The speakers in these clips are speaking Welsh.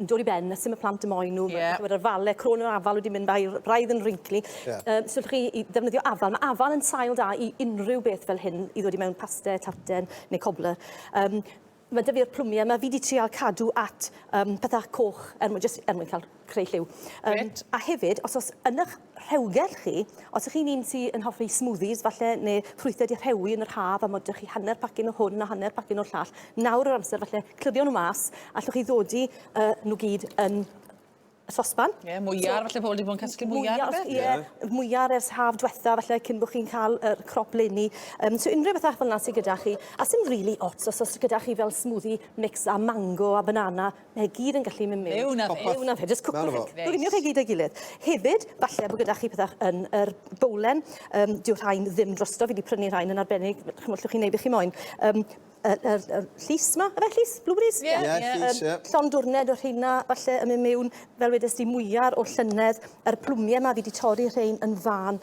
yn dod i ben, a sdim y plant y moen nhw. Yeah. Mae yr fale, crôn yr afal wedi mynd, mae braidd yn wrinkly. Yeah. Um, so chi i ddefnyddio afal. Mae afal yn sail da i unrhyw beth fel hyn, i ddod i mewn paste, tarten neu cobbler. Um, mae dyfu o'r plwmiau yma, fi wedi trial cadw at um, pethau coch er mwyn, just, er mwyn cael creu lliw. Um, a hefyd, os oes yn eich rhewgell chi. Os ych chi'n un sy'n hoffi smoothies falle neu ffrwythau di rhewi yn yr haf a modwch chi hanner pacyn o hwn a hanner pacyn o'r llall, nawr yw'r amser falle clirio nhw mas, allwch chi ddodi uh, nhw gyd yn y sosban. Ie, yeah, mwyar, so, falle pobl wedi bod yn casglu mwyar. Ie, yeah, yeah. mwyar ers haf diwetha, falle cyn bod chi'n cael yr er crop leni. Um, so unrhyw beth fel yna sydd gyda chi. A sy'n rili really ots, os oes gyda chi fel smoothie mix a mango a banana, Mae e gyd yn gallu mynd mewn. Mewn â fe. Popeth. Mewn â fe. Jyst cwpwch e. Mewn â fo. Coginio chi gyd a'i gilydd. Hefyd, falle bo' gyda chi pethach yn yr bowlen. Yym, dyw rhain ddim drosto. Fi 'di prynu rhain yn arbennig. Ch'mod, llwch chi neud be' chi moyn. Yym, y y y llys 'ma. Yfe llys? Blueberries? Ie. Ie, llys, ie. Yym, llond dwrned o rheina, falle, yn myn' mewn. Fel wedes di, mwyar o llynedd. Yr plwmie 'ma, fi 'di torri rhein yn fân.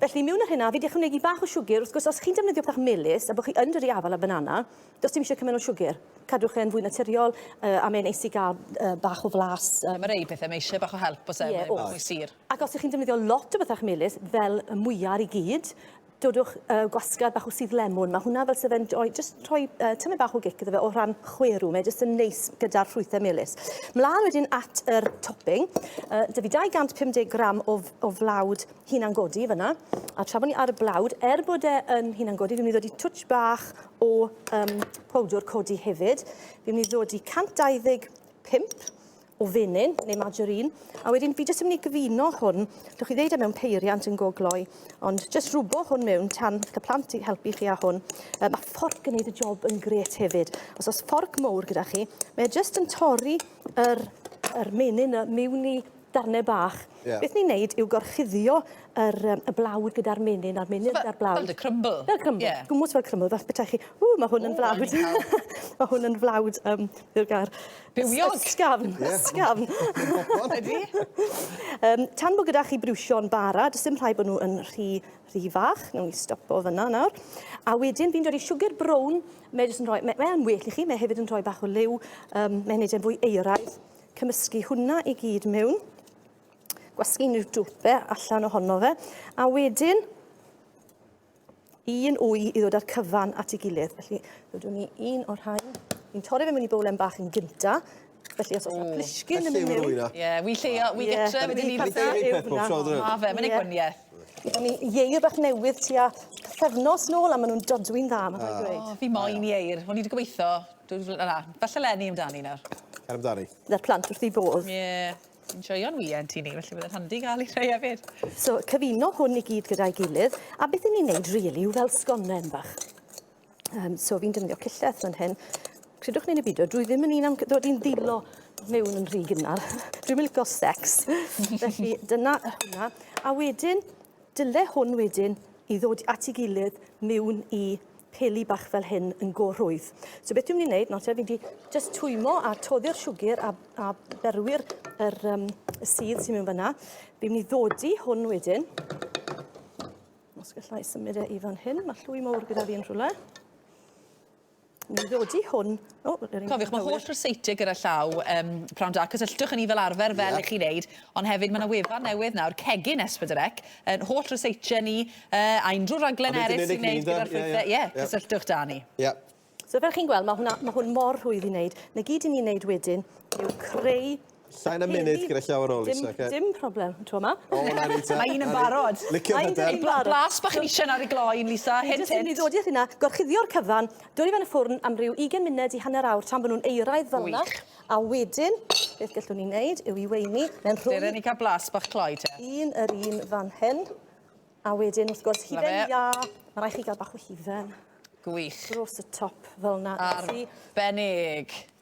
Felly, miwn ar hynna, fi 'di ychwanegu bach o siwgr, wrth gwrs, os chi'n defnyddio pethau melys, a bod chi yn dyrru afal ar banana, does dim eisiau cymaint o siwgr. Cadwch e'n fwy naturiol, yy, a mae'n neis i gael, yy, bach o flas, yy. Mae rhei pethau, mae eisiau bach o help, oes e, Ie, mae e'n bach oes. mwy sur. Ac os 'y chi'n defnyddio lot o bethau melys, fel y mwya ar ei gyd, dodwch, yy, gwasgar bach o sudd lemwn, mae hwnna fel 'se fe'n rhoi, jyst rhoi, yy, tamaid bach o gic iddo fe o ran chwerw, mae jyst yn neis gyda'r ffrwythau melys. Mlaen wedyn at yr topping, yy, 'da fi 250 gram o f- o flawd hunangodi fyna, a tra bod ni ar y blawd, er bod e yn hunangodi, fi'n mynd i ddod i twtsh bach o um, powdwr codi hefyd. Fi'n mynd i ddod i 125 o fenyn neu margarine, a wedyn fi jyst yn mynd i gyfuno hwn, dych chi ddeud e mewn peiriant yn gogloi, ond jyst rhwbo hwn mewn tan beth y plant i helpu chi â hwn. Um, mae fforc yn gwneud y job yn gret hefyd. Os oes fforc mowr gyda chi, mae e jyst yn torri yr, yr menyn y miwn i darnau bach. Yeah. Beth ni'n neud yw gorchuddio yr, um, y blawd gyda'r menyn, a'r menyn so, gyda'r blawd. Fel dy crumble. Fel crumble. Yeah. Gwmwys fel crumble, fel bethau chi, ww, mae hwn yn flawd. mae hwn yn flawd, um, yw'r gair. Bywiog. Ysgafn, yeah. ysgafn. Ydy. um, tan bod gyda chi brwsio'n bara, does dim rhaid bod nhw yn rhy, rhy fach. Nw'n ni stopo fyna nawr. A wedyn fi'n dod i siwgr brown, mae'n well i chi, mae hefyd yn rhoi bach o liw, um, mae'n neud e'n fwy eiraidd. cymysgu hwnna i gyd mewn, gwasgu unrhyw dwpe allan ohono fe, a wedyn un wy i ddod â'r cyfan at ei gilydd. Felly, rydw ni un o'r rhain. Ni'n torri fe mewn i bowlen bach yn gynta. Felly, os oes yna plisgyn yn mynd mewn... Ie, ie, wy lleio, wy gytre, wy ddim i fatha. Ma fe, mae'n ei gwaniaeth. O'n ni ieir bach newydd tua pethefnos nôl a maen nhw'n dodwy'n dda, mae'n rhaid dweud. O, fi moyn ieir. O'n i wedi gobeithio Dwy fl- na, falle Lenny amdani nawr. Cer amdani. Na'r plant wrth i bodd. Ie. Yeah. Yn joio'n wien ti ni, felly byddai'n handi gael i rhai hefyd. So, cyfuno hwn i gyd gyda'i gilydd, a beth i ni'n neud rili really, yw fel sgonnen bach. Um, so, fi'n defnyddio cilleth fan hyn. Credwch neu'n y byd, drwy ddim yn un am ddod i'n ddilo mewn yn rhy gynnar. Dwi'n mynd licio sex. Felly, dyna hwnna. A wedyn, Dyle hwn wedyn i ddod at ei gilydd miwn i peli bach fel hyn yn go rhwydd. So beth dwi'n mynd i wneud nawr te, fi wedi just twymo a toddi'r siwgr a, a berwi'r yr, um, y sydd sy'n mynd fyna. Fi'n mynd i ddodi hwn wedyn. Os gallai symud e i fan hyn, mae llwy mawr gyda fi yn rhywle. Ni'n ddodi hwn... O, yr un cywir. Cofiwch, mae holl ryseitiau gyda llaw um, prawn da. Cysylltwch yn ni fel arfer, fel yeah. i chi wneud. Ond hefyd, mae yna wefan newydd nawr, cegin Esbydrec, yn holl ryseitiau ni, uh, a unrhyw raglen eraill sy'n gwneud gyda'r ffrwythau. Ie, yeah, yeah. cysylltwch da ni. Ie. Yeah. So fel chi'n gweld, mae, hwnna, mae hwn mor rhwydd i wneud. Na gyd i ni'n wneud wedyn yw creu Llai na munud gyda llawer o Lisa, oce? Dim problem y tro 'ma. O, 'na ni te. Mae un yn barod. Licio hyder. Blas bach yn isien ar ei gloi un, Lisa. Hint, hint. Dwi'n mynd i ddodi at hynna. Gorchuddio'r cyfan, dwyn fe yn y ffwrn am ryw 20 munud i hanner awr tan bod nhw'n euraidd fel yna. Wych. A wedyn, beth gallwn ni wneud yw i weini mewn rhwng... Dere ni cael blas bach cloi te. Un yr un fan hyn. A wedyn, wrth gwrs, hufen iâ. Love it. Mae rhaid chi gael bach o hufen... Gwych. ...dros y top fel yna. Arbennig.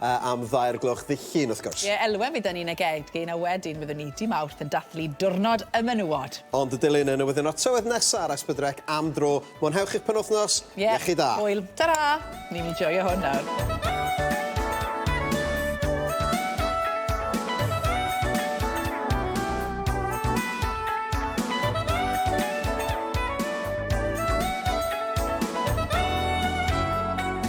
A am ddaear gloch ddydd Llun wrth gwrs. Ie, elwa mi 'da ni'n y gegin a wedyn fyddwn ni dy Mawrth yn dathlu diwrnod y menywod. Ond y dilyn yn newyddion o'r tywydd nesa ar Esbydrec am dro. Mwynhewch eich penwythnos. Ie. Iechyd da. Hwyl. Tara! Ni'n enjoio hwn nawr.